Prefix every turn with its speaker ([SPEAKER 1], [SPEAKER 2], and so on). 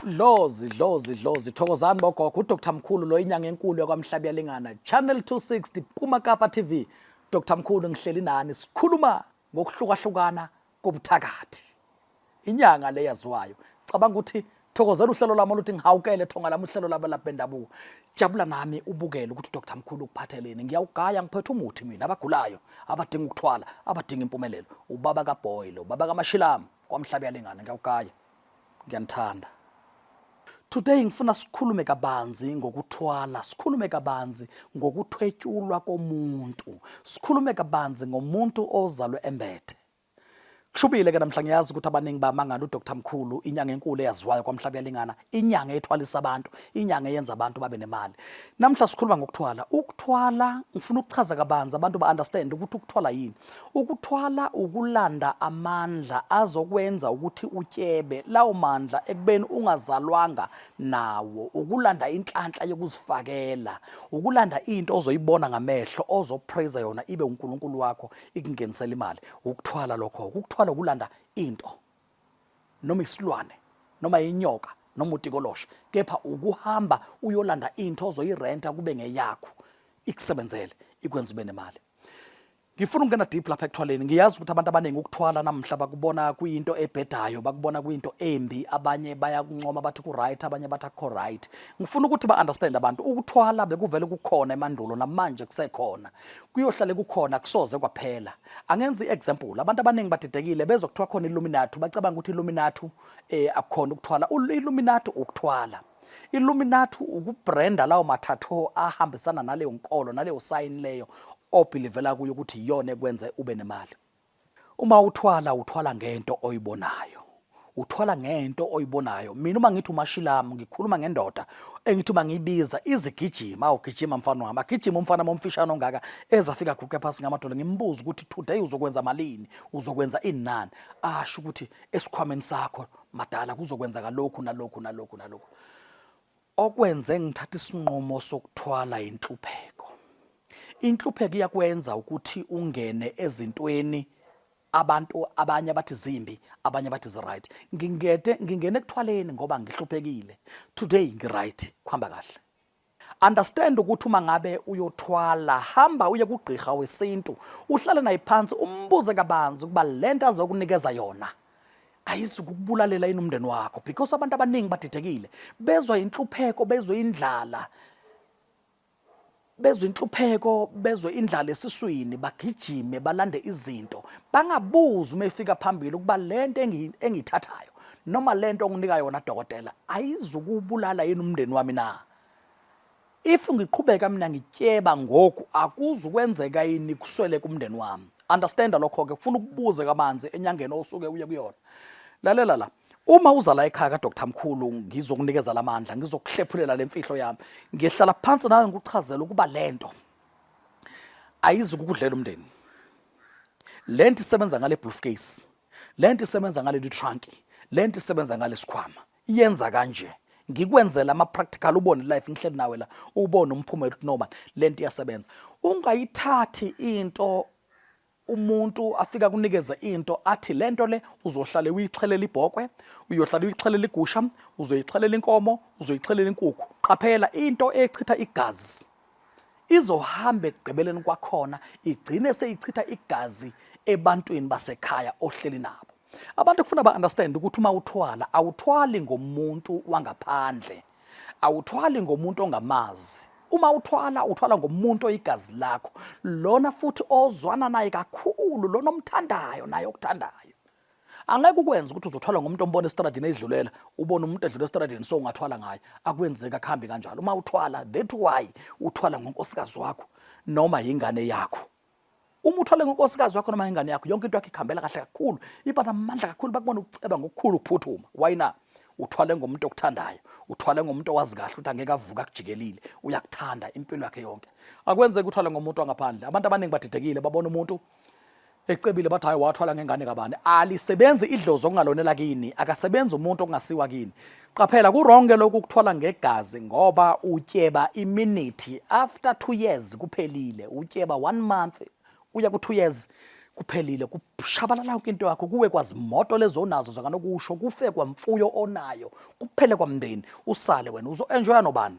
[SPEAKER 1] Dlozi dlozi dlozi thokozani bogogo uDr Mkhulu lo inyanga enkulu yakwamhlabi yalingana Channel 260 Puma Kapa TV Dr Mkhulu ngihleli nani sikhuluma ngokuhlukahlukana kobuthakathi inyanga le yaziwayo cabanga ukuthi thokozela uhlelo lami oluthi ngihawukele thonga lami uhlelo labo labendabuko jabula nami ubukele ukuthi uDr Mkhulu ukuphatheleni ngiyawugaya ngiphethe umuthi mina abagulayo abadinga ukuthwala abadinga impumelelo ubaba kaBoy lo baba kaMashilama kwamhlaba yalingana ngiyawukaya ngiyanithanda today ngifuna sikhulume kabanzi ngokuthwala sikhulume kabanzi ngokuthwetyulwa komuntu sikhulume kabanzi ngomuntu ozalwe embethe kushubile ke namhla ngiyazi ukuthi abaningi bamangala udr mkhulu inyanga enkulu eyaziwayo kwamhlaba yalingana inyanga ethwalisa abantu inyanga eyenza abantu babe nemali namhla sikhuluma ngokuthwala ukuthwala ngifuna ukuchaza kabanzi abantu ba-understand ukuthi ukuthwala yini ukuthwala ukulanda amandla azokwenza ukuthi utyebe lawo mandla ekubeni ungazalwanga nawo ukulanda inhlanhla yokuzifakela ukulanda into ozoyibona ngamehlo ozopraise yona ibe unkulunkulu wakho ikungenisela imali ukuthwala lokho ukuthwala ukulanda into noma isilwane noma inyoka noma utikolosha kepha ukuhamba uyolanda into ozoyirenta kube ngeyakho ikusebenzele ikwenza ube nemali ngifuna ukungena deep lapha ekuthwaleni ngiyazi ukuthi abantu abaningi ukuthwala namhla bakubona kuyinto ebhedayo bakubona kuyinto embi abanye bayakuncoma bathi ku-right abanye bathi akukho right ngifuna ukuthi ba-understand abantu ukuthwala bekuvele kukhona emandulo namanje kusekhona kuyohlale kukhona kusoze kwaphela angenza i-example abantu abaningi badidekile bezwa kuthiwa khona illuminati bacabanga ukuthi illuminati um eh, akukhona ukuthwala illuminati ukuthwala illuminati ukubrenda lawo mathatho ahambisana naleyo nkolo naleyo sayini leyo obhilivela kuyo ukuthi iyona ekwenze ube nemali Uma uthwala uthwala ngento oyibonayo uthwala ngento oyibonayo mina uma ngithi umashilamu ngikhuluma ngendoda engithi uma ngiyibiza izigijima awugijima mfana wami agijima umfana momfishane ongaka ezafika guqe phansi ngamadolo ngimbuza ukuthi today uzokwenza malini uzokwenza inani asho ukuthi esikhwameni sakho madala kuzokwenzeka lokhu nalokhu nalokhu nalokhu Okwenze ngithatha isinqumo sokuthwala inhlupheko. Inhlupheko iyakwenza ukuthi ungene ezintweni abantu abanye abathi zimbi abanye abathi ziright ngingede ngingene ekuthwaleni ngoba ngihluphekile today ngiright kuhamba kahle understand ukuthi uma ngabe uyothwala hamba uye kugqirha wesintu uhlale naye phansi umbuze kabanzi ukuba lento azokunikeza yona ayizukukubulalela yini umndeni wakho because abantu abaningi badidekile bezwa inhlupheko bezwe indlala bezwe inhlupheko bezwe indlala esiswini bagijime balande izinto bangabuzi uma efika phambili ukuba lento engiyithathayo noma lento onginika yona dokotela ayizukubulala yini umndeni wami na If ngiqhubeka mina ngityeba ngoku akuzu kwenzeka yini kuswele kumndeni wami. Understand lokho ke kufuna ukubuze kabanzi enyangeni osuke uye kuyona. Lalela la. Uma uza la ekhaya kaDr Mkhulu ngizokunikeza lamandla ngizokuhlephulela lemfihlo yami. Ngihlala phansi nawe ngikuchazela ukuba lento ayizi kukudlela umndeni. Lento isebenza ngale briefcase. Lento isebenza ngale trunk. Lento isebenza ngale sikhwama. yenza kanje ngikwenzela ama practical ubone life ngihleli nawe la ubone umphumela ukuthi noma lento iyasebenza ungayithathi into umuntu afika kunikeza into athi lento le uzohlale uyixhelela ibhokwe uyohlala uyixhelela igusha uzoyixhelela inkomo uzoyixhelela inkukhu qaphela into echitha igazi izohamba ekugqibeleni kwakhona igcine seyichitha igazi ebantwini basekhaya ohleli nabo Abantu kufuna ba understand ukuthi uma uthwala awuthwali ngomuntu wangaphandle. Awuthwali ngomuntu ongamazi. Uma uthwala uthwala ngomuntu oyigazi lakho, lona futhi ozwana naye kakhulu, lona omthandayo naye okuthandayo. Angeke ukwenze ukuthi uzothwala ngomuntu ombona estradini edlulela, ubone umuntu edlula estradini so ungathwala ngaye. Akwenzeki akuhambi kanjalo. Uma uthwala that why uthwala ngonkosikazi wakho noma yingane yakho. uma uthole ngonkosikazi wakho noma ingane yakho yonke into yakho ikhambela kahle kakhulu iba namandla kakhulu bakubona ukuceba ngokukhulu ukuphuthuma why na uthwale ngomuntu okuthandayo uthwale ngomuntu owazi kahle ukuthi angeke avuka akujikelile uyakuthanda impilo yakhe yonke akwenzeki uthwale ngomuntu wangaphandle abantu abaningi badidekile babona umuntu ecebile bathi hayi wathwala ngengane kabani alisebenzi idlozi okungalonela kini akasebenzi umuntu okungasiwa kini Qaphela kuwrong ke lokhu kuthwala ngegazi ngoba utyeba iminute after 2 years kuphelile utyeba 1 month uya ku 2 years kuphelile kushabalala yonke into yakho kuwe kwazimoto lezo onazo zakanokusho kufe kwamfuyo onayo kuphele kwamndeni usale wena uzo-enjoya nobani